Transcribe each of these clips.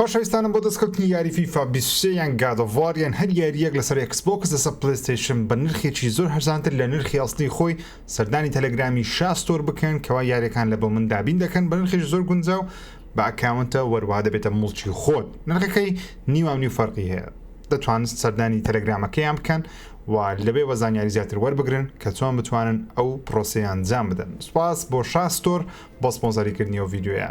خۆشەویستانم بۆ دەستکەوتنی یاری فیفا بیست و سێ یان گاد ئۆف وار یان هەر یاریەک لەسەر ئێکس بۆکس لەسەر پلەیستەیشن بە نرخێکی زۆر هەرزانتر لە نرخی ئەسڵی خۆی سەردانی تەلەگرامی شا ستۆر بکەن کەوا یاریەکان لە بۆ من دابین دەکەن بە نرخێکی زۆر گونجاو بە ئەکاونتە وەروەها دەبێتە موڵکی خۆت نرخەکەی نیوام نیو فەرقی هەیە دەتوانن سەردانی تەلەگرامەکەیان بکەن و لەوێوە زانیاری زیاتر وەربگرن کە چۆن بتوانن ئەو پرۆسەیە ئەنجام بدەن سوپاس بۆ شا ستۆر بۆ سپۆنسەریکردنی ئەو ڤیدیۆیە.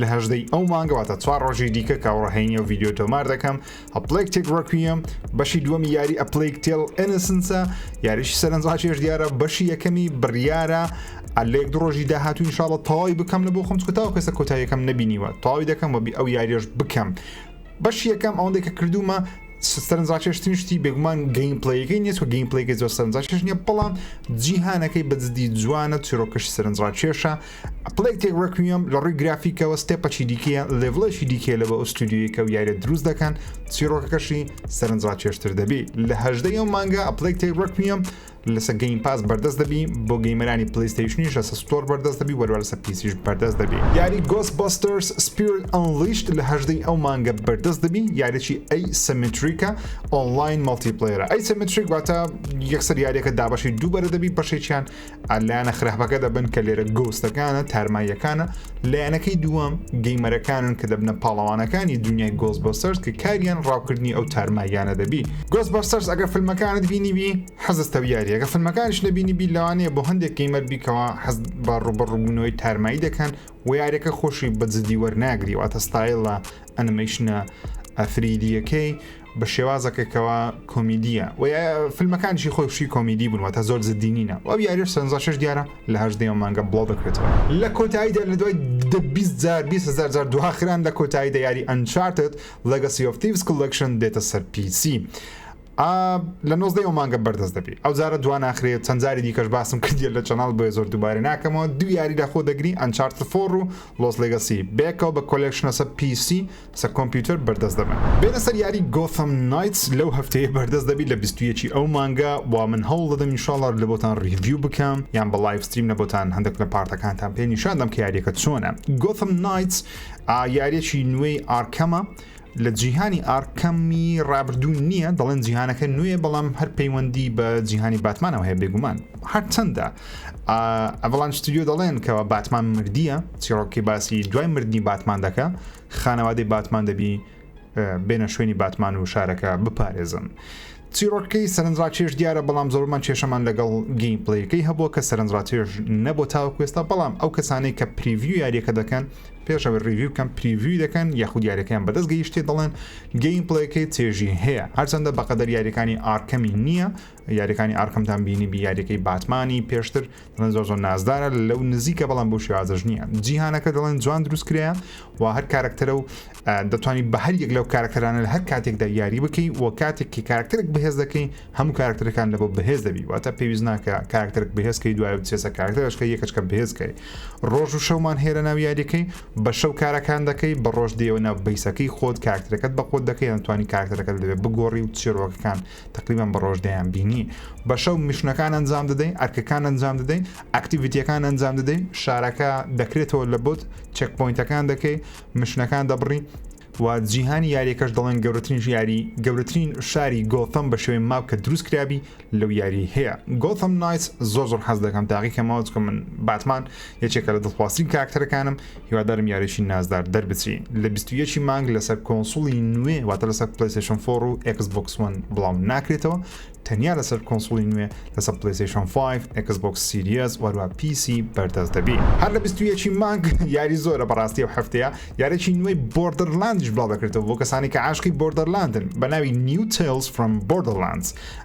لە هەژدە ی ئەو مانگە واتە چوار ڕۆژی دیکە کاوڕە هەینی و ڤیددیو تۆمار دەکەم ئەپلەیک تێک ڕکویەم بەشی دووەمی یاری ئەپلیک تێل ئەنسنسە یاریش سەرنجڕاکێش دیارە بەشی یەکەمی بڕیارە ئەلێک دو ڕۆژی داهاتوین شاڵە تەواوی بکەم لە بۆ خم کوتاو کەسە کۆتاییەکەم نبینیوە تەواوی دەکەم وەبی ئەو یاریش بکەم بەش یەکەم ئەوەندەی کە کردومە سەرنجڕاکێشتنی شتی بێگومان گەین پلیگەی نیە و گەین پلیگە زۆر سەرنجڕاکێش نیە بەڵام جیهانەکەی بەجددی جوانە چیرۆکەش سەرنجڕاکێشە پلەیتێک ڕێکویەم لە ڕووی گرافیکەوە ستێپەچی دیکەیە لێڤڵێکی دیکەیە لە بە ئەو ستودیویەکە و یاریە دروست دەکەن چیرۆکەکەشی سەرنجڕاکێشتر دەبی لە هەژدەی ئەو مانگە ئەپلەیک تێک ڕێکویەم لەسە گەیم پاس بەردەست دەبی بۆ گەیمەرانی پلیستیشنیش لەسە ستۆر بەردەست دەبی وەروە لەسە پیسیش بەردەست دەبی یاری گۆس بەستەرس سپیرت ئەنلیشت لە هەژدەی ئەو مانگە بەردەست دەبی یاریی ئەی سەمتریکە ئۆنلاین مەڵتی پلەیرە ئەی سەمتریک واتە یەکسەر یاریەکە دابەشی دووبەرە دەبی بەشێکیان لایەنە خراپەکە دەبن کە لێرە گۆستەکانە تارماییەکانە لایەنەکەی دووەم گەیمەرەکانن کە دەبنە پاڵەوانەکانی دنیای گۆز بۆ سەرز کە کاریان ڕاوکردنی ئەو تارماییانە دەبی گۆز بۆ سەرز ئەگە فیلمەکانت بینیبی حەزستە یاریەکە فیلمەکانش نەبینی بی لەوانەیە بۆ هەندێک گەیمەر بیکەوە حەز بە ڕوبەڕوبوونەوەی تارمایی دەکەن و یاریەکە خۆشی بە جددی وەرناگری واتە ستایلە ئەنمەیشنە ئەفریدیەکەی بە شێوازەکە کەوا کۆمیدیە و فیلمەکانشی خۆی شی کۆمیدی بوون واتە زۆر زدی نینە ئەو یاریش سەنزا شش دیارە لە هەر دێ مانگە بڵاو دەکرێتەوە لە کۆتاییدا لە دوای جار هزار جار دواخران لە کۆتایی دە یاری ئەنچارتت لەگەسی ئۆفتیڤس کلکشن دێتە سەر پیسی. لە نۆزدە ئەو مانگە بەردەست دەبی ئەو جارە دو ناخرێت چەند جاری دیکەش باسم کردیە لە چەناڵ بۆیە زۆر دووبارە ناکەمەوە دو یاری لە خۆ دەگری ئەنچارت فۆڕ و لۆس لەگەسی بێکەوە بە کۆلکشنەسە پیسی سەر کۆمپیوتەر بەردەست دەبن. بێنە سەر یاری گۆثەم نایتس لەو هەفتەیە بەردەست دەبی لە بیست و یەک ی ئەو مانگە وا من هەوڵ دەدەم ان شاء اللە لەبۆتان ڕیڤیو بکەم یان بە ڵایڤ ستریم لەبۆتان هەندەک لە پارتەکانتان پێ نیشان دەم کە یاریەکە چۆنە گۆثەم نایتس ئا یاریەکی نوێی ئارکەمە لە جیهانی ئارکەمی ڕابردوو نییە دەڵێن جیهانەکە نوێیە بەڵام هەر پەیوەندی بە جیهانی باتمانەوە هەیە بێگومان هەرچەندە ئەڤڵان ستودیۆ دەڵێن کەوا باتمان مردیە چیڕۆکی باسی دوای مردنی باتمان دەکە خانەوادەی باتمان دەبی بێنە شوێنی باتمان و شارەکە بپارێزن. چیڕۆکەکەی سەرنجڕاکێش دیارە بەڵام زۆرمان کێشەمان لەگەڵ گەین پلیەکەی هەبووە کە سەرنجڕاتێش نەبوو تاوەکوێستا بەڵام ئەو کەسانەی کە پریڤیو یاریەکە دەکەن پێشەوە ریویو کەم پریڤوی دەکەن یاخود یاریەکەیان بەدەست گەیشتێ دەڵێن گەین پلیەکەی تێژی هەیە هەرچەندە بەقەدەر یاریەکانی ئارکەمی نییە یاریەکانی ئارکەمتان بینیبی یاریەکەی باتمانی پێشتر دەڵێن زۆر زۆر نازدارە لەو نزیکە بەڵام بۆ شێوازەش نییە جیهانەکە دەڵێن جوان دروست کرێە و هەر کارکتەرە و دەتوانی بە هەر یەک لەو کارکتەرانە لە هەر کاتێکدا یاری بکەی و کاتێک کە کارکتەرێک بەهێز دەکەی هەموو کارکتەرەکان لە بۆ بەهێز دەبی واتە پێویست ناکە کارکتەرێک بەهێزکەی دوای چێسە کارکتەرشکە یەکەچکە بەهێزکەی ڕۆژ و شەومان هێرە ناو یاریەکەی بە شەو کارەکان دەکەی بە ڕۆژ دێوە ناو بیسەکەی خۆت کارکتەرەکەت بە خۆت دەکەی یانتوانی کارکتەرەکەت لەوێ بگۆڕی و چێرۆکەکان تەقریبەن بە ڕۆژ دەیان بینی بە شەو میشنەکان ئەنجام دەدەین ئەرکەکان ئەنجام دەدەین ئەکتیڤیتیەکان ئەنجام دەدەین شارەکە دەکرێتەوە لە بۆت چەک پوینتەکان دەکەی مشنەکان دەبڕی و جیهانی یاریەکەش دەڵێن گەورەترین یاری گەورەترین شاری گۆتەم بە شوێن ماپ کە دروست کرابی لەو یاری هەیە گۆتەم نایس زۆر زۆر حەز دەکەم تاقیکەمەوە چکە من باتمان یەکێکە لە دڵخوازترین کاکتەرەکانم هیوادارم یاریی نازدار دەربچی لە بیست و یەک ی مانگ لەسەر کۆنسوڵی نوێ واتە لەسەر پلەیستێشن فۆڕ و ئێکس بۆکس وەن بڵاو ناکرێتەوە تەنیا لەسەر کۆنسوڵی نوێ لەسەر پلەیستێشن فایڤ ئێکس بۆکس سیریەس وەروە پیسی بەردەست دەبی هەر لە بیست و یەک ی مانگ یاری زۆرە بەڕاستی ئەو هەفتەیە یارێکی نوێی بۆردەرلاندیش بڵاو دەکرێتەوە بۆ کەسانی کە عاشقی بۆردەرلاندن بە ناوی نیو تەیڵز فرۆم بۆردەرلاندز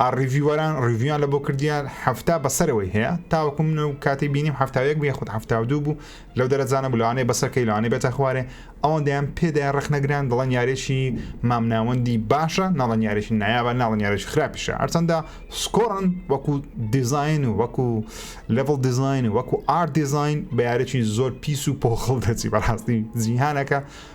ئا ڕیڤیوەران ڕیڤیویان لە بۆ کردیە حەفتا بە سەرەوەی هەیە تاوەکو من ئەو کاتەی بینیم حەفتا و یەک بوو یاخود حەفتا و دوو بوو لەو دەرەجانە بوو لەوانەیە بەسەر کەی لەوانەیە بێتە خوارێ ئەوەندەیان پێدایە ڕەخنەگران دەڵێن یاریەکی مامناوەندی باشە ناڵێن یاریەکی نایابە ناڵێن یاریەکی خراپیشە هەرچەندە سکۆڕن وەکو دیزاین و وەکو لڤڵ دیزاین و وەکو ئارت دیزاین بە یاریەکی زۆر پیس و پۆخڵ دەچی بەڕاستی جیهانەکە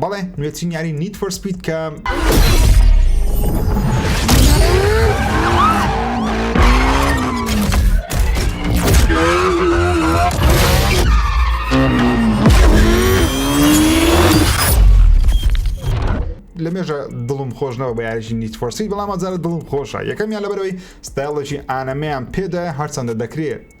بەڵێ نوێترین یاری نیت فۆر سپید کە لە مێژە دڵم خۆش نەوە بە یاریی نیت فۆرسی بەڵام ئەزارە دڵم خۆشە یەکەمیان لەبەرەوەی ستایڵێکی ئانەمەیان پێدا هەرچەندە دەکرێت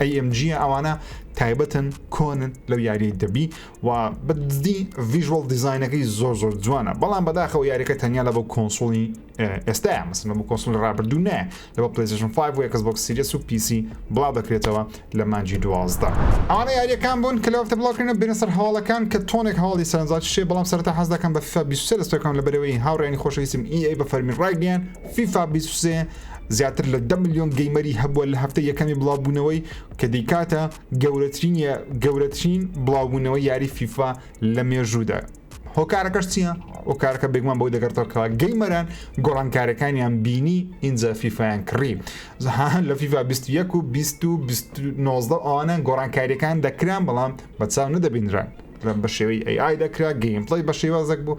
AMG ە ئەوانە تایبەتن کۆنن لەو یاریە دەبی و بەدزدی ڤژوەڵ دیزینەکەی زۆر زۆر جوانە بەڵام بەداخەوە یاریەکە تەنیا لە بۆ کۆنسوڵی ئێستا مەسن بۆ کۆنسول ڕابردوو نە لە بۆ پلیزشن 5 و یکس بۆکس سیریس و پیسی بڵاو دەکرێتەوە لە مانجی دوازدە ئەوانە یاریەکان بوون کە لەوەفتە بڵاوکردنە بێنە سەر هەواڵەکان کە تۆنێک هەواڵی سەرنجاچ شێ بەڵام سەرتا حەز دەکەم بە فیفا 23 دەستەکەم لە بەرەوەی هاوڕێنی خۆشەویستم ئی ئەی بە فەرمی ڕایگەیان فیفا 23 زیاتر لە دە ملیۆن گەیمەری هەبووە لە هەفتەی یەکەمی بڵاوبوونەوەی کە دەیکاتە گەورەترین گەورەترین بڵاوبوونەوەی یاری فیفا لە مێژوودا هۆکارەکەش چییە؟ هۆکارەکە بێگومان بەوە دەگەڕێتەوە کەوا گەیمەران گۆڕانکارەکانیان بینی ئینجا فیفایان کڕی زەهان لە فیفا 21 و 2019 ئەوانە گۆڕانکاریەکان دەکران بەڵام بە چاو نەدەبینران بە شێوەی ئەی ئای دەکرا گەیمپڵی بە شێوازێک بوو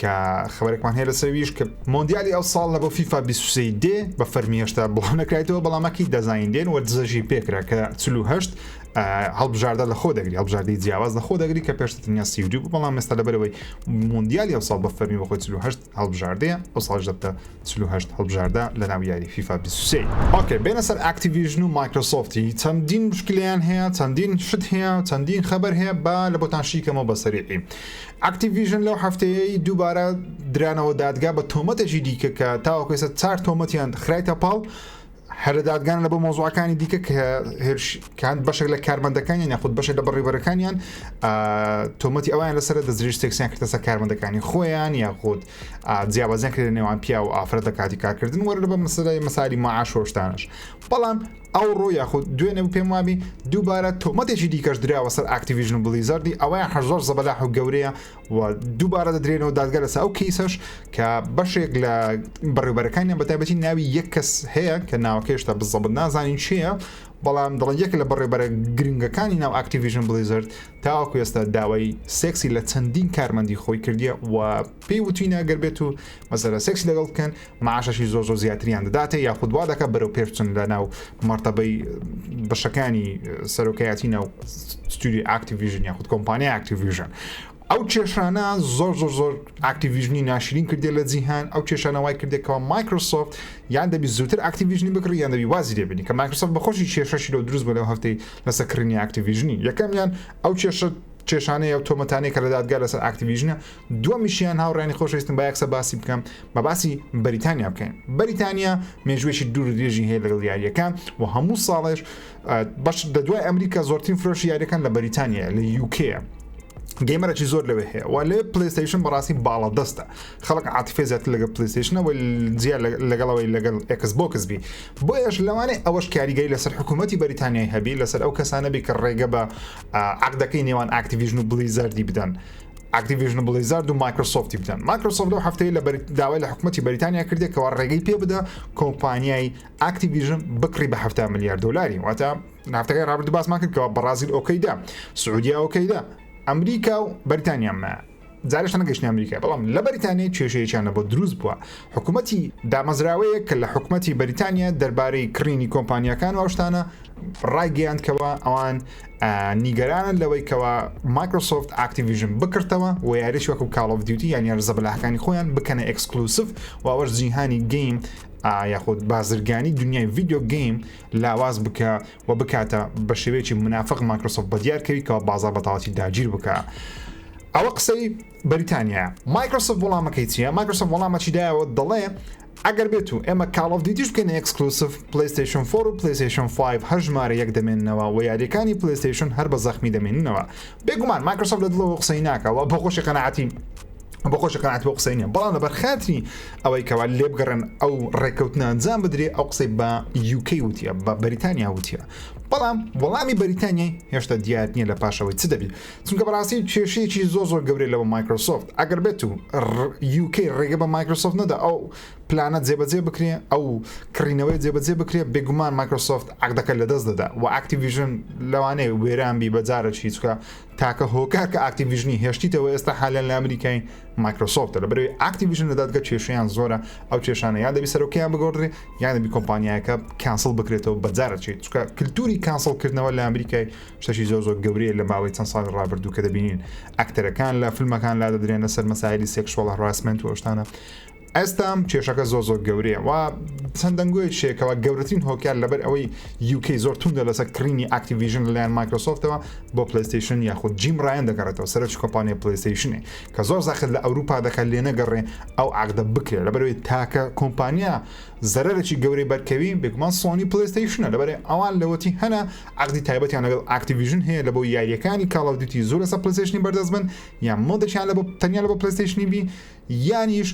کە خبرێکمان هەیە لەسەر ویش کە مۆندیالی ئەو ساڵ لە بۆ فیفا 23 دێ بە فەرمی هێشتا بۆ نەکرایتەوە بەڵامەکی دەزانین دێن وە دزەژی پێکرا کە 48 هەڵبژاردە لە خۆ دەگری هەڵبژاردی جیاواز لە خۆ دەگری کە پێشتە تەنیا سیودی بوو بەڵام مێستا لەبەرەوەی مۆندیالی ئەو ساڵ بە فەرمی بەخۆی 48 هەڵبژاردەیە ئەو ساڵ دەبتە 48 هەڵبژاردە لە ناو یاری فیفا 23 ئۆکێ بێنە سەر ئاکتیڤژن و مایکرۆسۆفتی چەندین مشکلیان هەیە چەندین شت هەیە چەندین خەبەر هەیە با لە بۆتان شیکەمەوە بەسەریعی ئەکتیڤیژن لەو هەفتەیەی دووبارە درانەوە دادگا بە تۆمەتێکی دیکە کە تاوەکو ئێستا چار تۆمەتیان خرایتە پاڵ هەر لە دادگان لە بۆ مۆزوعەکانی دیکە کە هێرشکان بەشێک لە کارمەندەکانیان یاخود بەشێک لە بەڕیبەرەکانیان تۆمەتی ئەویان لەسەر دەزریش تێکسیان کردەسە کارمەندەکانی خۆیان یاخود جیاوازیان کرد نێوان پیا و ئافرەت لە کاتی کارکردن وەرە بە مەسەدای مەساری معاشۆشتانش بەڵام ئەوڕۆ یاخود دوێنێ و پێم وابی دووبارە تۆمەتێکی دیکەش دراوە سەر ئاکتیڤیژن و بلیزەردی ئەوەیان هەر زۆر زەبەلاح و گەورەیە و دووبارە دەدرێنەوە دادگا لەسە ئەو کەیسەش کە بەشێک لە بەڕێوبەرەکانیان بەتابەتی ناوی یەک کەس هەیە کە ناوەکەشتا بزەبت نازانین چییە بەڵام دەڵێن یەک لە بەڕێبەرە گرنگەکانی ناو ئاکتیڤژن بلیزرد تاوەکو ئێستا داوای سێکسی لە چەندین کارمەندی خۆی کردیە و پێی وتوینە ئەگەر بێت و مەسەلە سێکسی لەگەڵ بکەن معاشەشی زۆر زۆر زیاتریان دەداتێ یاخود وا دەکە بەرەو پێشچن لە ناو مەرتەبەی بەشەکانی سەرۆکایەتی ناو ستوری ئاکتیڤژن یاخود کۆمپانیا ئاکتیڤژن ئەو کێشانە زۆر زۆر زۆر ئاکتیڤژنی ناشرین کردێ لە جیهان ئەو کێشانەوای کردێکەوە مایکرۆسۆفت یان دەبی زووتر ئاکتیڤژنی بکڕی یان دەبی وازی لێبنی کە مایکرۆسۆفت بەخۆشی کێشەشی لەو دروست بە لەو هەفتەی لەسەر کڕینی ئاکتیڤژنی یەکەمیان ئەو کێشە کێشانەیە و تۆمەتانەی کە لە دادگا لەسەر ئاکتیڤژنە دووەمیشیان هاوڕێنی خۆشەویستم با یەکسە باسی بکەم بە باسی بەریتانیا بکەین بەریتانیا مێژوێکی دوور درێژی هەیە لەگەڵ یاریەکە و هەموو ساڵێش بەش لە دوای ئەمریکا زۆرترین فرۆش یاریەکان لە بەریتانیا لە یوکەیە گەیمەرەی زۆر لەوێ هەیە و لێ پلیستیشن بەڕاستی باڵا دەستە خەڵک عاتفێ زیاتر لەگە پلیستیشنەوە جیا لەگەڵەوەی لەگەڵ ئەکس بۆکس بی بۆ ئێش لەوانێ ئەوەش کاریگەری لەسەر حکوومەتتی بەریتانیای هەبی لەسەر ئەو کەسانەبی کە ڕێگە بە عقدەکەی نێوان ئاکتیویژن و بلیزەردی بدەن ئاکتیڤیژن بڵیزارد و مایکرۆسۆفتی بدەن مایکرۆسۆفت لەو هەفتەیە لە داوای لە حکوومەتی بەریتانیا کردێک کەەوە ڕێگەی پێ بدە کۆمپانیای ئاکتیڤیژن بکڕی بە هەفتا میلیارد دلاری واتە نافتەکەی ڕابرد باسمان کرد کەەوە بەڕازیل ئۆکەیدا سعودیا ئۆکەیدا ئەمریکا و بەریتانیامە جارشتە نەگەشتنی ئەمریکا بەڵام لە بەریتانیای کێشەیەکیانە بۆ دروست بووە حکوومەتی دامەزراوەیە کە لە حکوومەتی بەریتانیا دەربارەی کڕینی کۆمپانیەکان واشتانە ڕایگەیاندکەوە ئەوان نیگەرانن لەوەی کەوا مایکرۆسۆفت ئاکتیڤیژن بکڕتەوە و یاریش وەکو کاڵ ئۆف دیوتی یان یارزە بەلاهەکانی خۆیان بکەنە ئەکسکلوسف و ئەوەش جیهانی گەیم یاخود بازرگانی دنیای ڤیددیو گەیم لاواز بکە و بکاتە بە شێوەیەکی منافق مایکرۆسۆفت بە دیارکەوی کەەوە بازار بەتەواتی داگیر بکە. ئەوە قسەی بەریتانیا مایکرۆسۆف وڵامەکەی چیە مایکرۆسۆف وڵامەچیدایەوە دەڵێ ئەگەر بێتو ئێمە کاڵ ئۆف دیوتیش بکەینە ئێکسکلوسڤ پلەیستەیشن فۆر و پلەیستەیشن فایڤ هەر ژمارە یەک دەمێننەوە وە یاریەکانی پلەیستەیشن هەر بە زەخمی دەمێننەوە بێگومان مایکرۆسۆفت لە دڵەوە قسەی ناکا وە بە خۆشی قەناعەتی بە خۆشی قەناعەت بۆ قسەی نیە بەڵام لەبەر خاتری ئەوەی کەوا لێبگەڕێن ئەو ڕێککەوتنە ئەنجام بدرێ ئەو قسەی بە UK وتیە بە بەریتانیا وتیە بەڵام وەڵامی بەریتانیای هێشتا دیار نییە لە پاشەوەی چ دەبی چونکە بەڕاستی کێشەیەکی زۆ زۆر گەورەی لەوە مایکرۆسۆفت ئەگەر بێت و یوکەی ڕێگە بە مایکرۆسۆفت نەدا ئەو پلانە جێبەجێ بکرێ ئەو کڕینەوەی جێبەجێ بکرێ بێگومان مایکرۆسۆفت عقدەکە لە دەست دەدا و ئاکتیڤژن لەوانەیە وێران بی بەجارە چیچکە تاکە هۆکار کە ئاکتیڤژنی هێشتیتەوە ئێستا حالە لە ئەمریکای مایکرۆسۆفت لە بەرەوەی ئاکتیڤژن لە دادگە کێشیان زۆرە ئەو کێشانە یان دەبی سەرۆکیان بگۆڕێ یان دەبی کۆمپانیایەکە کانسڵ بکرێتەوە بەجارە چیت چکە کللتوری کانسڵکردنەوە لە ئەمریکای شتەکی زۆر زۆر گەورەیە لە ماوەی چەند ساڵی ڕابردوو کە دەبینین ئەکتەرەکان لە فیلمەکان لا دەدرێن لەسەر مەسایلی سێکشوەڵ هەراسمنت و ئەوشتانە ئەستام کێشەکە زۆ زۆر گەورەیە و چەند دەنگۆی شێکەوە گەورەترین هۆکار لەبەر ئەوەی یوکەی زۆر توندە لەسەر کڕینی ئاکتیڤژن لەلایەن مایکرۆسۆفتەوە بۆ پلیستیشن یاخود جیم ڕایەن دەگەڕێتەوە سەرچ کۆمپانیا پلیستیشنێ کە زۆر زاخت لە ئەوروپا دەکات لێ نەگەڕێ ئەو عقدە بکرێت لەبەرەوەی تاکە کۆمپانیا زەرەرێکی گەورەی بەرکەوی بێگومان سۆنی پلیستیشنە لەبەرێ ئەوان لەوەتی هەنا عەقدی تایبەتیان لەگەڵ ئاکتیڤیژن هەیە لە بۆ یاریەکانی کاڵ ئۆف دیوتی زۆر لەسەر پلەیستەیشنی بەردەست بن یان مۆدێکیان لە بۆ تەنیا لە بۆ پلەیستەیشنی بی یانیش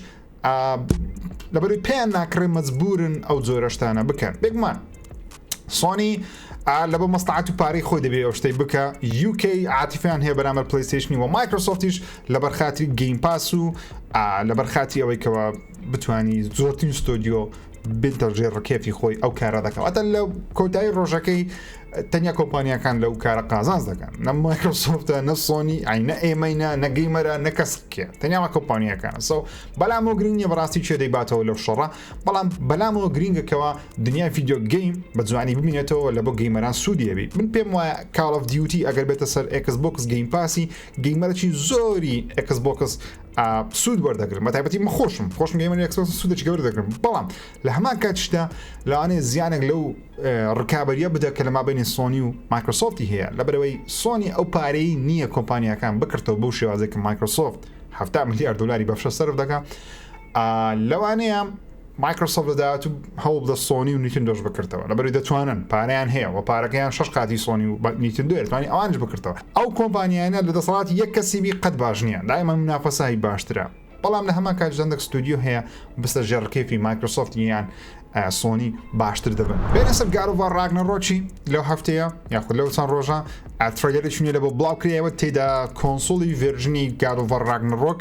لەبەروی پێیان ناکڕێ مەجبورن ئەو جۆرە شتانە بکەن بێگومان سۆنی لە بۆ مەستعات و پارەی خۆی دەبێ ئەو شتەی بکە UK عاتیفیان هەیە بەرامەر پلیستیشنی و مایکرۆسۆفتیش لە بەرخاتری گەیم پاس و لە بەرخاتی ئەوەی کەەوە بتوانی زۆرترین ستۆدیۆ بێت دەژێ ڕکێفی خۆی ئەو کارە دەکەواتە لە کۆتایی ڕۆژەکەی تەنیا کۆمپانیەکان لەو کارە قازانز دەکەن نە مایکرۆسۆفتە نە سۆنی ئاینە ئێمەینە نەگەیمەرە نە کەسکێ تەنیاوە کۆمپانیەکان سە بەلامەوە گرنگە بەڕاستی چێ دەیباتەوە لەو شەڕە بەڵام بەلامەوە گرنگەکەەوە دنیا یددیو گەیم بە جوانی ببینێتەوە لە بۆ گەیمەران سوودیەبی من پێم وایە کاڵف دیوتی ئەگەر بێتە سەر ئەکس بۆکس گەیم پاسی گەیمەرەی زۆری ئەکس بۆکس سوود وەردەگرن بە تایبەتی من خۆشم خۆشم گەیمەر ئەکسبۆکس سوودێکی گەورە دەگرم بەڵام لە هەمان کاتیشدا لەوانەیە زیانێک لەو ڕکابەریە بدە کە لە مابینی سۆنی و مایکرۆسۆفتی هەیە لە بەرەوەی سۆنی ئەو پارەی نییە کۆمپانیەکان بکردەوە بەو شێوازێک کە مایکرۆسۆفت 70 میلیارد دلاری بەفشە سەرف دەکە لەوانەیە مایکرۆسۆفت لە داهاتوو هەوڵ بدە سۆنی و نیتندۆش بکرتەوە لەبەروی دەتوانن پارەیان هەیە وە پارەکەیان شەش قاتی سۆنی و نیتندۆیە دەتوانی ئەوانیش بکرتەوە ئەو کۆمپانیانە لە دەسەڵاتی یەک کەسی بی قەت باش نییە دایمەن منافەسە هەی باشترە بەڵام لە هەمان کات جەندەک ستودیو هەیە بستە ژێڕ کێفی مایکرۆسۆفت یان سۆنی باشتر دەبن بێنە سەر گارۆڤار ڕاگنەڕۆکی لەو هەفتەیە یاخود لەو چەند ڕۆژە ئەترەگەری چونیە لە بۆ بڵاو کرایەوە تێدا کۆنسوڵی ڤێرژنی گارۆڤار ڕاگنەڕۆک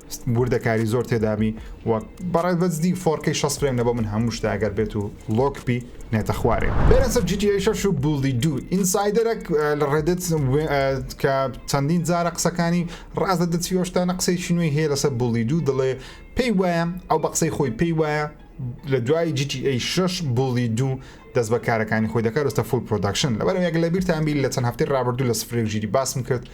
وردەکاری زۆر تێدابی و بەڕێ بەجدی فۆرکەی شەست فرەیم لەبۆ من هەموو شتە ئەگەر بێت و لۆک بی نێتە خوارێ. بێنە سەر جی تی ئەی شەش و بوڵدی دوو ئینسایدەرەک لە ڕێدت کە چەندین جارە قسەکانی ڕاست دەدە چیۆشتانە قسەیەکی نوێی هەیە لەسەر بوڵدی دوو دەڵێ پێی وایە ئەو بە قسەی خۆی پێی وایە لە دوای جی تی ئەی شەش بوڵدی دوو دەست بە کارەکانی خۆی دەکات وستە فول پرۆداکشن لەبەرەوە یەک لە بیرتان بی لە چەند هەفتەی ڕابردوو لە سفرێک ژیری باسم کرد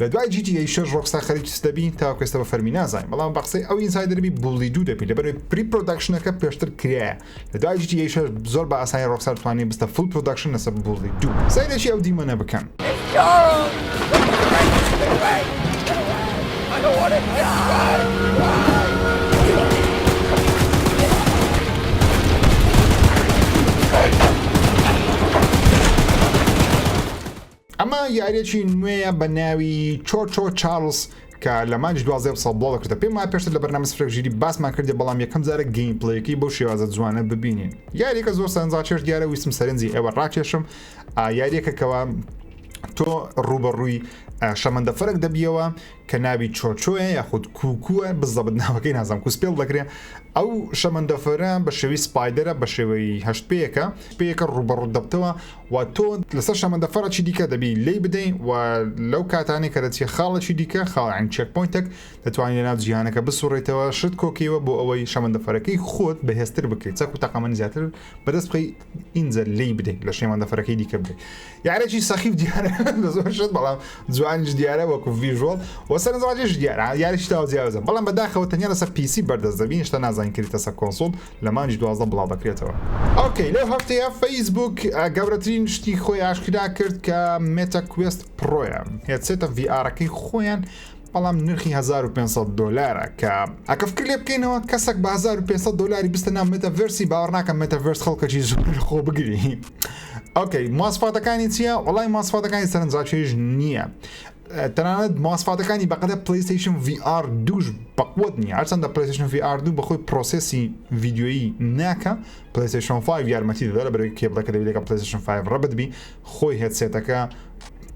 لە دوای جی تی ئەی شەش ڕۆکستار خەریکی چ دەبی تاوەکو ئێستا بە فەرمی نازانین بەڵام بە قسەی ئەو ئینسایدەرە بی بوڵی دوو دەبی لەبەر ئەوەی پری پرۆداکشنەکە پێشتر کرایە لە دوای جی تی ئەی شەش زۆر بە ئاسانی ڕۆکستار توانی بستە فوڵ پرۆداکشن لەسەر بوڵی دوو سەیرێکی ئەو دیمەنە بکەن. ئەمە یاریەکی نوێیە بە ناوی چۆچۆ چارلز کە لە مانج دوازدە ساڵ بڵاو دەکردە پێم وایە پێشتر لە بەرنامە سفرێک ژیری باسمان کردێ بەڵام یەکەم جارە گەیم پلەیەکەی بەو شێوازە جوانە ببینین یاریەکە زۆر سەرنجڕاکێش دیارە ویستم سەرنجی ئێوە ڕاکێشم یاریەکە کەوا تۆ ڕوبەڕووی شەمەندەفەرێک دەبیەوە کە ناوی چۆچۆیە یاخود کووکووە بزەبت ناوەکەی نازانم کو سپێڵ دەکرێ ئەو شەمەندەفەرە بە شێوی سپایدەرە بە شێوەی هەشت پێیەکە پێیەکە ڕوبەڕوت دەبتەوە و تۆ لەسەر شەمەندەفەرەکی دیکە دەبی لی بدەین و لەو کاتانێک کە دەچێت خاڵێکی دیکە خاڵعین چێک پوینتێک دەتوانین لە ناو جیهانەکە بسوڕێتەوە شت کۆکیوە بۆ ئەوەی شەمەندەفەرەکەی خۆت بەهێزتر بکەیت چەک و تەقەمەنی زیاتر بەدەست بخەی ئینجا لی بدەین لە شێمان دەفرەکەی دیکە بدەین یارێکی سەخی و دیارە زۆر شت بەڵام جوانیش دیارە وەکو ڤژۆڵ وەسەر زواجش دیارە یاریش تا جیاوزە بەڵام بەداخەوە تەنیا لەسەر پیسی بەردەست دەبین شتە نازان کریتە سەر کۆنسول لە مانجی دوازدە بڵاو دەکرێتەوە ئۆکەی لەو هەفتەیە فەیسبوک گەورەترین شتی خۆی ئاشکرا کرد کە مێتە کوێست پرۆیان هێتسێتە ڤآرەکەی خۆیان بەڵام نرخی هەزار و پێنج سەد دۆلارە کە ئەکە فکر لێ بکەینەوە کەسەک بە هەزار و پێنج سەد دۆلاری بستە ناو مێتەڤێرسی باوەڕ ناکەم مێتەڤێرس خەڵکەکی زۆر لە خۆ بگری ئۆکەی ماسفاتەکانی چییە وڵای ماسفاتەکانی سەرنجڕاکێش نییە تەنانەت ماسفاتەکانی بەقەدە پلیستیشن VR دوش بەقوت نیە هەرچەندە پلیستیشن VR دوو بەخۆی پرۆسسی ویددیویی ناکە پلیستیشن 5 یارمەتی دەدا لە بەرەوەی کێبڵەکە دەبێت لەگە پلیستیشن 5 ڕەبت بی خۆی هێدسێتەکە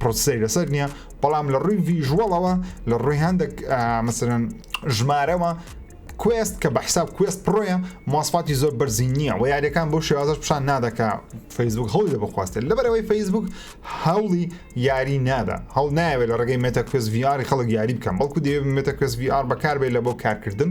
پرۆسەی لەسەر نییە بەڵام لە ڕووی ڤژوەڵەوە لە ڕووی هەندێک مەسەرەن ژمارەوە کوێست کە بە حساب کوێست پڕۆیە ماسپاتی زۆر بەرزی نییە و یاریەکان بۆ شێوازش پیشان نادەکە فەیسبوک هەڵی لە بخواستێت لەبەرەوەی فەیسبوک هەوڵی یاری نادا هەڵ ناوێت لە ڕێگەی مێتەکوێز ڤیاری خەڵک یاری بکەم بەڵکو دێمێتەکوێز VR بەکاربێت لە بۆ کارکردن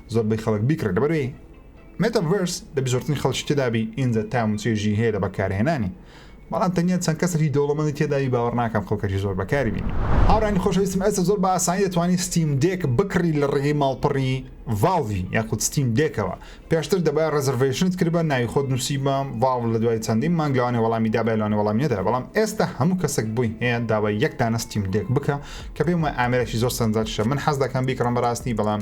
زۆر بەی خەڵک بیکڕێت لەبەروی مێتە ڤرس دەبی زۆرترین خەڵکی تێدابی ئینجا تام و چێژی هەیە لە بەکارهێنانی بەڵام تەنیا چەند کەسێکی دەوڵەمەندی تێداوی باوەڕ ناکەم خەڵکەکی زۆر بەکاری بینی هاوڕانی خۆشەویستم ئێستا زۆر بە ئاسانی دەتوانانی ستیم دێک بکڕی لە ڕێگەی ماڵپەڕی ڤاڵڤی یاخود ستیم دێکەوە پێشتر دەبای ڕێزرڤەیشنت کردبا ناوی خۆت نووسیبا ڤاڵڤ لە دوای چەندین مانگ لەوانێ وەڵامی دابای لەوانێ وەڵامی نەدا بەڵام ئێستا هەموو کەسێک بووی هەیە داوای یەک دانە ستیم دێک بکە کە پێم وایە ئامێرێکی زۆر سەرنجراکیشە من حەز دەکەم بیکڕم بەڕاستی بەڵام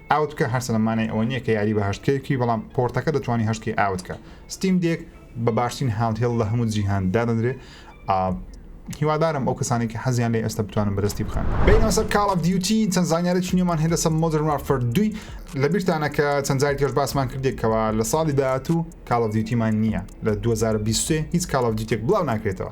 ئاوت بکە هەرچەندە مانای ئەوە نییە کە یاری بە هەشت کەی بکەی بەڵام پۆرتەکە دەتوانی هەشت کەی ئاوت بکە ستیم دێک بە باشترین هاندهێڵ لە هەموو جیهان دادەنرێ هیوادارم ئەو کەسانی کە حەزیان لێ ئێستا بتوانن بەدەستی بخەن بینەوە سەر کاڵ ئەف دیوتی چەند زانیاری چنیێمان هێندە سە مۆدرن وارفەر دوی لە بیرتانە کە چەند جاری کەش باسمان کردێکەوە لە ساڵی داهاتوو کاڵ ئەف دیوتیمان نییە لە 2023 هیچ کاڵ ئەف دیوتێک بڵاو ناکرێتەوە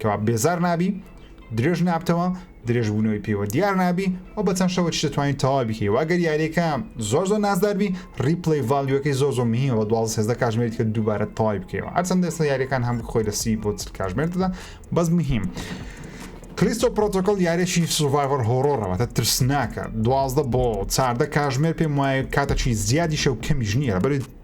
کەوابە بێزار نابی درێژ نابتەوە درێژ بوونەوەی پێوە دیار نابی و بە چەند شەوە دەتوانین تەواو بکەی واگەر یاریەکە زۆر زۆر نازداربی ریپلی ڤالیوەکەی زۆر زۆر مهیم بە دوازە سێزدە کاژمێریت کە دووبارە تەواوی بکەیەوە هەرچەند دەستە یاریەکان هەم خۆی لە سی بۆ چل کاژمێرتدا بەس مهیم. کریستۆ پرۆتۆکل یارێکی سوڤایڤەر هۆڕۆڕەوەتە ترسناکە دوازدە بۆ چاردە کاژمێر پێم وایە کاتەچی زیادیشە و کەمیش نییە بەری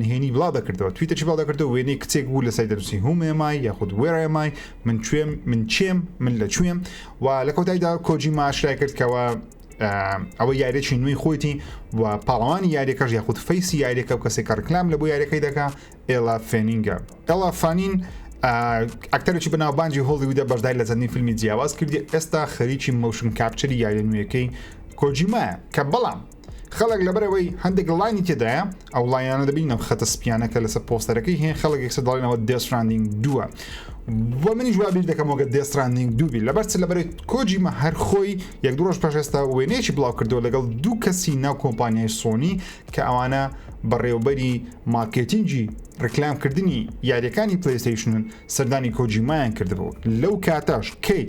نهێنی بڵاو دەکردەوە تویتەچی بڵاو دەکردەوە وێنەی کچێک بوو لە سای دەنووسی هومێمای یاخود وێڕێمای من کوێم من چێم من لە کوێم و لە کۆتاییدا کۆجی ماشرای کرد کەەوە ئەوە یاریێکی نوێی خۆیتی و پاڵەوانی یاریەکەش یاخود فەیسی یاریەکە و کەسێک ڕکلام لە بۆ یاریەکەی دەکا ئێلا فێنینگە ئەڵا فانین ئەکتەرێکی بەناوبانجی هۆڵیودا بەشدای لە زەنی فیلمی جیاواز کردی ئێستا خەریکی مەوشن کاپچری یاریە نوێەکەی کۆجیمایە کە بەڵام خەڵک لەبەر ئەوەی هەندێک ڵاینی تێدایە ئەو لایەنە دەبین ئەم خەتە سپیانە کە لەسەر پۆستەرەکەی هەیە خەڵک یەکسە دەڵێنەوە دێسراندنگ دووە بۆ منیش وابیر دەکەمەوەگە دێسراندنگ دووبی لەبەرچ لەبەرێت کۆجیمە هەرخۆی یەک درۆژ پێشێستا وێنەیەکی بڵاو کردەوە لەگەڵ دوو کەسی ناو کۆمپانیای سۆنی کە ئەوانە بەڕێوبەری مارکێتینگی ڕکلامکردنی یاریەکانی پلیستیشنن سەردانی کۆجیمایان کردبوو لەو کاتەش کەیت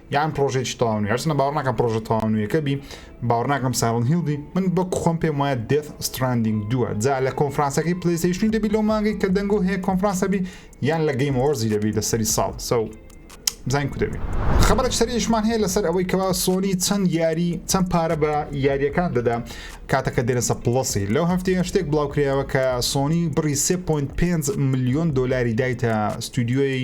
یان پرۆژێکی تاوان هەرچنە باوەڕ ناکەم پرۆژە تاوانویەکە بی باوەڕ ناکەم ساڵن هیلدی من بە خۆم پێم وایە دێت ستراندینگ دووە جا لە کۆنفرانسەکەی پلیسیشنی دەبی لەو مانگی کە دەنگۆ هەیە کۆنفرانسەبی یان لە گەیم وەرزی دەبی لە سەری ساڵ سەو بزانین کو دەبی خبرێک سەریشمان هەیە لەسەر ئەوەی کەوا سۆنی چەند یاری چەند پارە بە یاریەکان دەدا کاتەکە دێنەسە پڵسی لەو هەفتەیە شتێک بڵاوکرایەوە کە سۆنی بڕی 3.5 میلیۆن دلاری دایتە ستودیۆی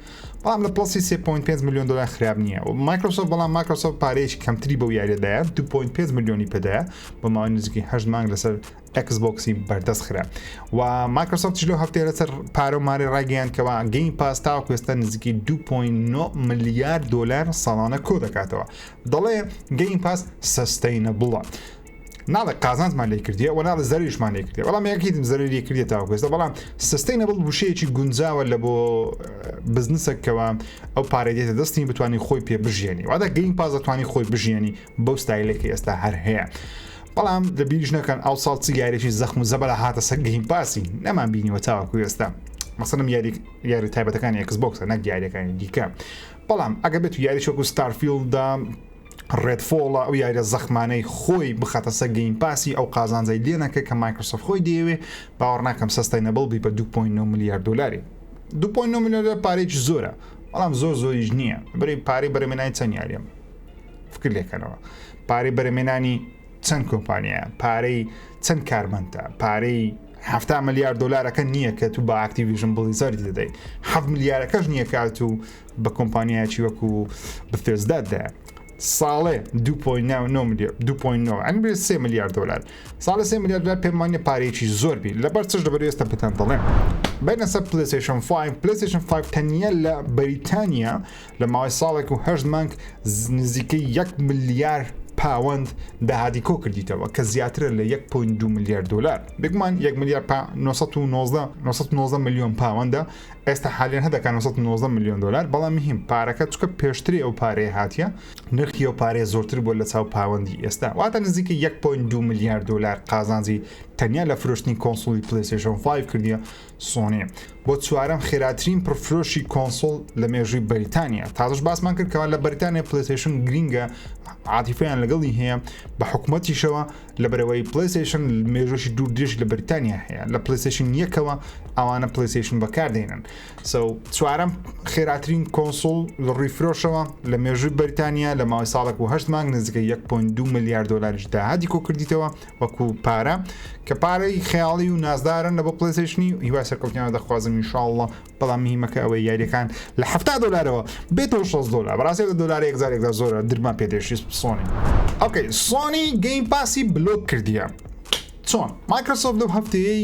بەڵام لە پڵەسی 3.5 ملیۆن دۆلار خراپ نییە و مایکرۆسۆفت بەڵام مایکرۆسۆفت پارەیەکی کەمتری بەو یاریەدایە 2.5 ملیۆنی پێدایە بە ماوەی نزیکی هەشت مانگ لەسەر ئەکس بۆکسی بەردەست خرا و مایکرۆسۆفت لەو هەفتەیە لەسەر پارە و مارە ڕاگەیان کەەوە گەین پاستا و کوێستە نزیکی 2.9 ملیار دلار ساڵانە کۆ دەکاتەوە دەڵێ گەین پاس سستینە بڵە. ناڵێ قازانجمان لێ کردیە و ناڵە زەریشمان لێ کردێ بەڵام یەکیتم زەری کردێت تاوکوێستە بەڵام سستەی نەبڵ وشەیەکی گونجاوە لە بۆ بزنسەکەەوە ئەو پارەی دێتە دەستی بتوانانی خۆی پێ بژێنی وادا گەین پازەتوانی خۆی بژێنی بەو ستایلێکی ئێستا هەر هەیە. بەڵام لە بیریش نەکەن ئەو ساڵ چی یاریی زەخم و زەبەر هاتە سەر گەیم پاسی نەمان بینیوە تاوەکو ئێستا مەسەنم یاری یاری تایبەتەکانی ئەکس بۆکسە نەک یاریەکانی دیکە بەڵام ئەگە بێت یاری شۆکو ستارفیلدا ڕێدفۆڵە ئەو یاریە زەخمانەی خۆی بخاتە سە گەیم پاسی ئەو قازانجای لێ نەکە کە مایکرۆسۆفت خۆی دەیەوێ باوەڕ ناکەم سەستای نەبڵ بی بە 2.9 میلیارد دلاری 2.9 میلیارد پارێکی زۆرە بەڵام زۆر زۆریش نییە بەری پارەی بەرەمێنانی چەند یاریەم فکر لێکەنەوە پارەی بەرەمێنانی چەند کۆمپانیایە پارەی چەند کارمەندە پارەی هەفتا ملیار دلارەکە نییە کە تو بە ئاکتیویژن بڵیزەری دەدەیت ه ملیارەکەش نییە کات و بە کۆمپانیایەکی وەکو بەتێزداددا ساڵێ 2.9 میلیارد دلار ساڵە سێ میلیارد دلار پێمانە پارێکی زۆر بی لەبەر چش لەبەر ئێستا پێتان دەڵێم بەنە سەر پلیسشن 5 پلیسشن 5 تەنیا لە بەریتانیا لە ماوەی ساڵێک و هەشت مانگ نزیکە 1 میلیارد پاوەند داهاتی کۆ کردیتەوە کە زیاترە لە 1.2 میلیارد دلار بگومان 1 میلیارد 990 میلیۆن پاوەندە ئێستا حالیان هەدەکە 990 ملیۆن دلار بەڵام مهم پارەکە چکە پێشتری ئەو پارەیە هااتە نرخی ئەو پارێ زۆرتر بۆ لە چاو پاوەندی ئێستا واتە نزیکە 1.2 میلیارد دلار قازانجی تەنیا لە فرۆشتنی کۆنسولی پلیسیشن 5 کردیە سۆنێ بۆ چوارم خێراترین پرفرۆشی کۆنسۆل لە مێژووی بەریتانیا تازش باسمان کردکەوە لە بەریتانیا پلیسیشن گرینگە عاتیفیان لەگەڵی هەیە بە حکوومەتیشەوە لەبەرئەوەی پلەیستەیشن مێژووشی دوور درێژ لە بریتانیا هەیە لە پلەیستەیشن یەکەوە ئەوانە پلەیستەیشن بەکاردێنن سەو چوارەم خێراترین کۆنسول لە ڕووی فرۆشەوە لە مێژووی بەریتانیا لە ماوەی ساڵێک و هەشت مانگ نزیکە 1.2 ملیار دلاریش داهاتی کۆکردیتەوە وەکو پارە کە پارەی خەیاڵی و نازدارن لە بۆ پلەیستەیشنی هیوای سەرکەوتنیان دەخوازم انشاءاللە بەڵام مهمەکە ئەوەی یاریەکان لە ه دلارەوە بێتەوە 6 دلار بەڕاستێکە دلار یەکزارێکدا زۆرە درمان پێدێشی سۆنی ئۆکەی سۆنی گەیم پاسی بلۆک کردیە چۆن مایکرۆسۆف لەو هەفتەیەی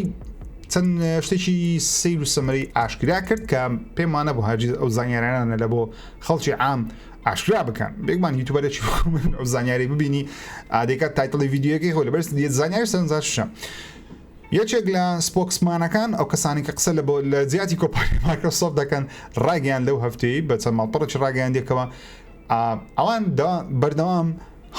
چەند شتێکی سیر و سەمەری ئاشکرا کرد کە پێمانە بۆ هاجیز ئەو زانیارانە لە بۆ خەڵکی عام ئاشکرا بکەن بێگمان یوتوبەرێکی ئەو زانیاری ببینی ئادێکات تایتڵی یددیوەکەی خۆ لە بەرز زانیاری سەرنجاشە یەکێک لە سپۆکسمانەکان، ئەو کەسانەی کە قسە لە لە جیاتی کۆمپانیای مایکرۆسۆفت دەکەن ڕایگەیاند لەو هەفتەیەی بە چەند ماڵپەڕێکی ڕاگەیاندییەکەوە ئەوان بەردەوام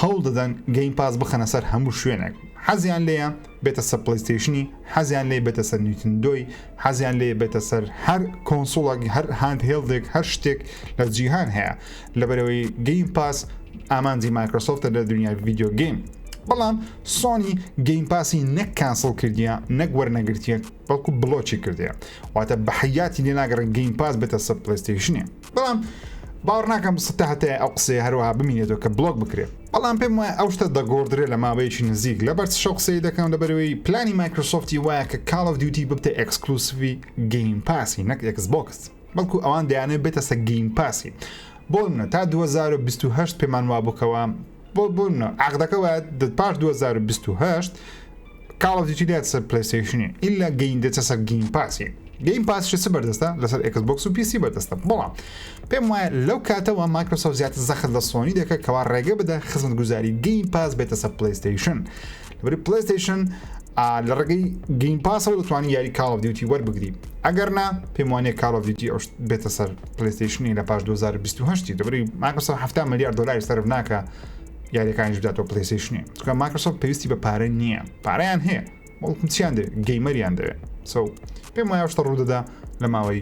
هەوڵ دەدەن گەیم پاس بخەنە سەر هەموو شوێنێک حەزیان لێیە بێتە سەر پلیستیشنی حەزیان لێ بێتە سەر نیتندۆی حەزیان لێ بێتە سەر هەر کۆنسوڵک هەر هاند هێڵدێک هەر شتێک لە جیهان هەیە لەبەرەوەی گەیم پاس ئامانجی مایکرۆسۆفتە لە دنیای ڤیددیو گەیم بەڵام سۆنی گەیم پاسی نەک کانسڵ کردیە نەک وەرنەگرتیە بەڵکو بڵۆکی کردەیە واتە بە حیاتی لێ ناگەڕن گەیم پاس بێتە سەر پلیستیشنێ بەڵام باوەڕ ناکەم ستا هەتای ئەو قسەیە هەروەها بمینێتەوە کە بڵۆک بکرێت بەڵام پێم وایە ئەو شتە دەگۆڕدرێ لە ماوەیەکی نزیک لە بەرچ شەو قسەی دەکەم لەبەرەوەی پلانی مایکرۆسۆفتی وایە کە کاڵ دیوتی ببتە ئەکسکلوسوی گەیم پاسی نەک ئەکس بۆکس بەڵکو ئەوان دەیانەوێت بێتە سە گەیم پاسی بۆ منە تا 2028 پێمان وابووکەوە بۆ بوون عقدەکە وایە پاش 2028 کاڵ دیتی دێت سەر پلیستیشنی ئللا گەین دێتە سەر گەیم پاسی گەیم پاسش چ بەردەستە لەسەر ئەکس بۆکس و پیسی بەردەستە بەڵام پێم وایە لەو کاتەوە مایکرۆسۆف زیاتر زەخت لە سۆنی دەکە کەوا ڕێگە بدە خزمەت گوزاری گەیم پاس بێتە سەر پلیستیشن بری پلەستیشن لە ڕگەی گەیم پاسەوە دەتوانانی یاری کاڵ دیوتی وەربگری ئەگەر نا پێم وانەیە کاڵ دیوتی ئەو بێتە سەر پلیستیشنی لە پاش 2020 دەبری ماکسە 7 ملیار دلاری سرف ناکە یاریەکانیش بداتەوە پلیستیشنی چکە ماکسۆ پێویستی بە پارە نییە پارەیان هەیە بەڵکم چیان دێ گەیمەریان دەوێت سو پێم وایە شتە ڕوودەدا لە ماوەی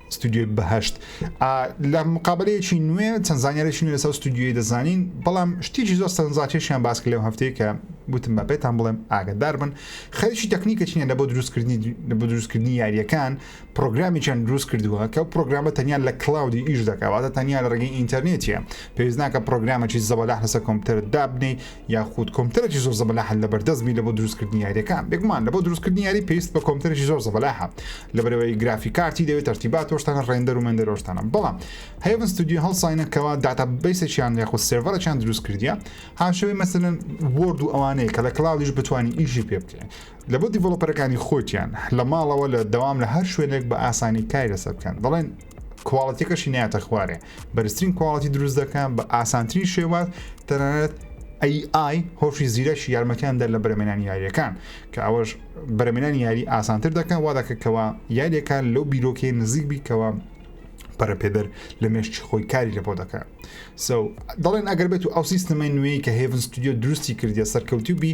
ستۆدیۆی بەهەشت ئا لە مقابەلەیەکی نوێ چەند زانیارێکی نوێ لەسەر ستۆدیۆی دەزانین بەڵام شتێکی زۆر سەرنجڕاکێشیان باس کرد لەو هەفتەیە کە وتم بە پێتان بڵێم ئاگدار بن خەریکی تەکنیکە چینە لە بۆ دروستکردنی لە بۆ دروستکردنی یاریەکان پرۆگرامیان دروست کردووە کە پرۆگرامە تەنیا لە کلااودی ئیش دەکەواتە تەنیا لە ڕێگەی ئینتەرنێتە پێویست ناکە پرۆگرامەی زەبەلاح لەسەر کۆمپیوتەر دابنی یاخود کۆمپیوتەرێکی زۆر زەبەلاحە لە بەردەست بی لە بۆ دروستکردنی یاریەکان بێگومان لە بۆ دروستکردنی یاری پێویست بە کۆمپیوتەرێکی زۆر زەبەلاحە لە بەرەوەی گرافی کارتی دەوێت تەرتیبات تۆشتانە ڕێندەر و مێندەرۆشتانە بەڵام هەیەون ستودیو هەڵساینە کەوا داتا بیسێکیان یاخود سێڤەرەکیان دروست کردیە هاوشێوەی مەسەلەن وۆرد و ئەوانەیە کە لە کلاودیش بتوانین ئیشی پێ بکەین لە بۆ دیڤڵۆپەرەکانی خۆیان لە ماڵەوە لە دەوام لە هەر شوێنێک بە ئاسانی کاری لەسەر بکەن دەڵێن کواڵەتەکەشی ناتە خوارێ بەرزترین کواڵەتی دروست دەکەن بە ئاسانترین شێوات تەنانەت AI هۆشی زیرەکی یارمەتیان دەر لە بەرەمێنانی یاریەکان کە ئەوەش بەرەمێنانی یاری ئاسانتر دەکەن وا دەکەکەوە یاریەکان لەو بیرۆکەی نزیک بیکەوە پەرەپێدەر لە مێشتی خۆی کاری لە بۆ دەکات سو دەڵێن ئەگەر بێت و ئەو سیستمەی نوێی کە هێڤن ستودیو دروستی کردە سەرکەوتوبی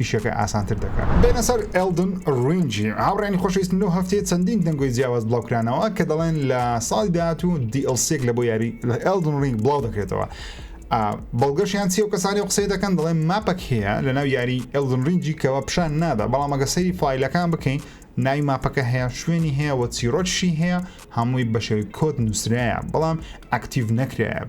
ئیشەکە ئاسانتر دەکات. بێنە سەر ئێلدن ڕینگی. هاوڕێیانی خۆشەویست نۆ هەفتەیە چەندین دەنگۆی جیاواز بڵاوکرانەوە کە دەڵێن لە ساڵی داهاتوو دی ئێل سیەک لە بۆ یاری ئێلدن ڕینگ بڵاو دەکرێتەوە بەڵگەشیان چی و کەسانی و قسەی دەکەن دەڵێن ماپەک هەیە لە ناو یاری ئەلدن ڕینجی کەەوە پیشان نادا بەڵام ئەگە سەری فیلەکان بکەین ناوی ماپەکە هەیە شوێنی هەیە وە چیرۆکشی هەیە هەمووی بە شێوی کۆت نووسراە بەڵام ئەکتیڤ نەکرایە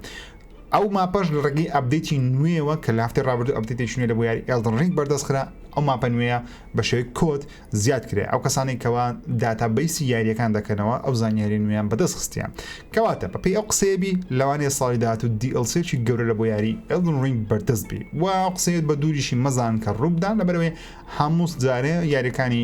ئەو ماپەش لە ڕێگەی ئەپدەیتی نوێیەوە کە لە هەفتەی ڕابردوو ئەپدەیتێکی نوێ لە بۆ یاری ئێڵدن ڕینگ بەردەست خرا ئەو ماپە نوێیە بە شێوەی کۆد زیاد کرێ ئەو کەسانەی کەوا داتا بەیسی یاریەکان دەکەنەوە ئەو زانیاری نوێیان بەدەست خستیان کەواتە بەپی ئەو قسەیەبی لەوانەیە ساڵی داهات و دیڵسێکی گەورە لە بۆ یاری ئێڵدن ڕینگ بەردەست بی و قسەیت بە دووریشی مەزان کە ڕووبدان لەبەرەوەی هەمووس جارێ یاریەکانی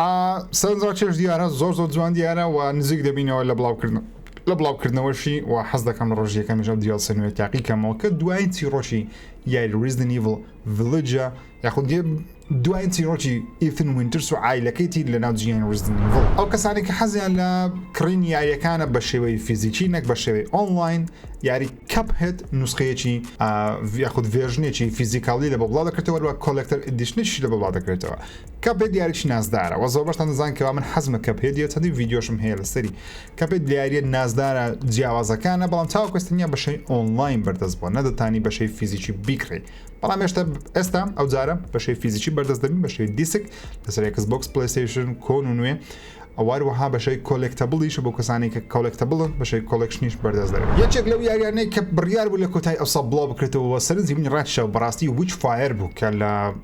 ئا سەرنجڕاک چێژ دیارە زۆر زۆر جوان دیارە و نزیک دەبینەوە لە بڵاوکردن لە بڵاوکردنەوەشی و حەز دەکەم لە ڕۆژی یەکەمیش ئەم دیێڵسێ نوێ تاقی کەمەوە کە دوایین چیڕۆکی یاری ریزدن ئیڤڵ ڤیلیجە یاخود دێ دوایین چیڕۆکی ئیثن وینترس و عایلەکەیتی لە ناو جیهانی ریزدن ئیڤڵ ئەو کەسانی کە حەزیان لە کڕین یاریەکانە بە شێوەی فیزیکی نەک بە شێوەی ئۆنلاین یاری کەپ هێت نوسخەیەکی یاخود ڤێژنێکی فیزیکاڵی لە بەڵا دەکرێتەوە وە کۆلکتەر ئیدیشنیش لە بەڵا دەکرێتەوە کەپێت یاریەکی نازدارە وە زۆربەشتان دەزان کەوا من حەزمە کەپێت یە چەندی ڤیددیۆشم هەیە لەسەری کەپێت دیارە نازدارە جیاوازەکانە بەڵام چاو کوستنیە بەشەی ئۆنلاین بەردەست بووە نەدەتانی بەشەی فیزیکی بیکڕی بەڵام هێشتا ئێستا ئەو جارە بەشەی فیزیکی بەردەست دەبین بەشەی دیسک لەسەرێکس بۆکس پلیسیشن کۆن و نوێ ئەوواروەها بەشەی کۆلێکتەبڵیش بۆ کەسانی کە کۆلێکتەبڵ بەشەی کۆلکشنیش بەردەست دەبێت یەکێک لەو یاریانەی کە بڕیار بوو لە کۆتای ئەوسا بڵاو بکرێتەوە سەرنجی منی ڕاکشەوە بەڕاستی وچ فایر بوو کە لە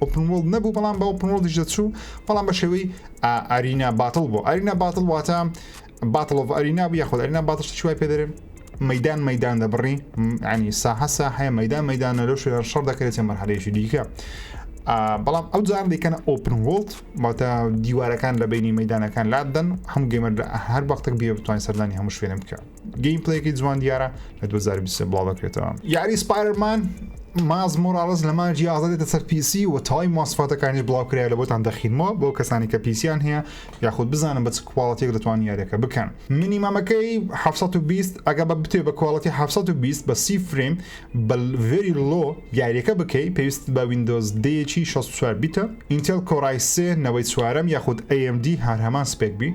ئۆپن وۆڵد نەبوو بەڵام بە ئۆپن وۆڵدیش دەچوو بەڵام بە شێوەی ئارینا باتڵ بۆ ئارینا باتڵ واتە باتڵۆڤ ئەرینا بوو یاخود ئەرینا باتڵ شتی وای پێدەێ مەدان مەدان دەبڕی ئەنی ساحە ساحەیە مەدان مەدانە لەو شوێن شەڕ دەکرێت چە مەرحەلەیەکی دیکە بەڵام ئەو جار دیکەن ئۆپن وڵت باتە دیوارەکان لە بینی مەدانەکان لادەن هەم گەمەر هەر بەختێک بێ بتوانین سەردانی هەموو شوێنم بکە گەیم پلەیەکی جوان دیارە لە 2023 بڵاو دەکرێتەوە یاری سپایرمان ماز مۆراڵز لە ماجی ئازادێتە سەر پیسی و تای ماسفاتەکانی بڵاو کرای لە بۆتان دەخینەوە بۆ کەسانی کە پیسیان هەیە یاخود بزانم بە کوواڵەتێک دەتوان یاریەکە بکەن منی مامەکەی 1920 ئەگە بە بتێ بە کوواڵەتی 1920 بە سی فریم بە ڤری لۆ یاریەکە بکەی پێویست بە وینندۆز دەیەکی 64 بیتە ئینتێل کۆڕای سێ نەوەی چوارم یاخود AMD هەر هەمان سپێک بی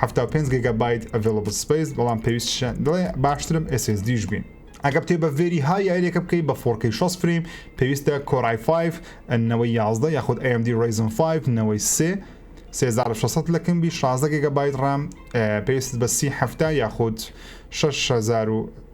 حەفتا و پێنج گێگا بایت ئەڤێڵەبڵ سپەیس بەڵام پێویست شە دڵێ باشترم ئێس ئێس دیش بین ئەگە بتێ بە ڤێری ها یاریەکە بکەی بە فۆرکەی شەست فریم پێویستە کۆرای 5 نەوەی یازدە یاخود AMD Ryzen 5 نەوەی سێ 3600 لە کمبی 16 گێگا بایت ڕام پێویست بە سی هەفتا یاخود 6000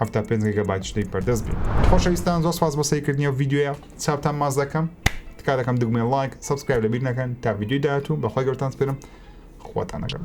حەفتا پێنج گەگابایت شتێک بەردەست بێ خۆشەویستان زۆر سپاس بۆ سەیرکردنی و ڤیدیۆیە چاوتان ماز دەکەم تکا دەکەم دگمێ لایک سبسکرایب لەبیر نەکەن تا ڤیدیۆی داهاتوو بەخوای گەورتان سپێرم خواتان نەگەم